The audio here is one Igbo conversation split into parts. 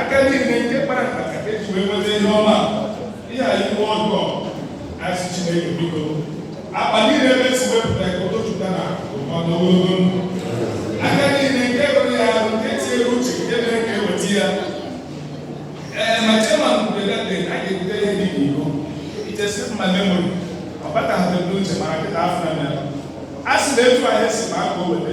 aka niile nke kpara mkpa ka e ji wee nweta ihe ọma ihe a iwu ọjọọ a sị Chineke biko akpa niile ebe e si wepụta ka ụtụtụta na ụfọdụ ogologo ndụ aka niile nke rụrụ ya ahụ nke tinyere uche nke mere ka e weta ya ee ma chema mberede a ga-ebute ihe dị n'iko ichesi mma memori ọ bataghị n'uche mara kịta afọ na mere a sị na etu ahụ e si ma aka o weta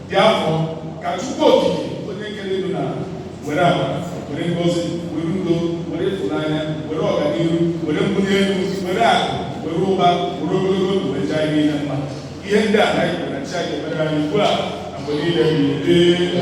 dị afọ ka Chukwu Okike onye kere elu na ala were agba were ngozi were udo were ịfụnanya were ọganihu were mbuli elu were akụ were ụba were ogologo ndụ wee jaa ihe niile mma ihe ndị a na anyị kwere na chi anyị ga-emere anyị ugbu a na mgbe niile ebighị ebi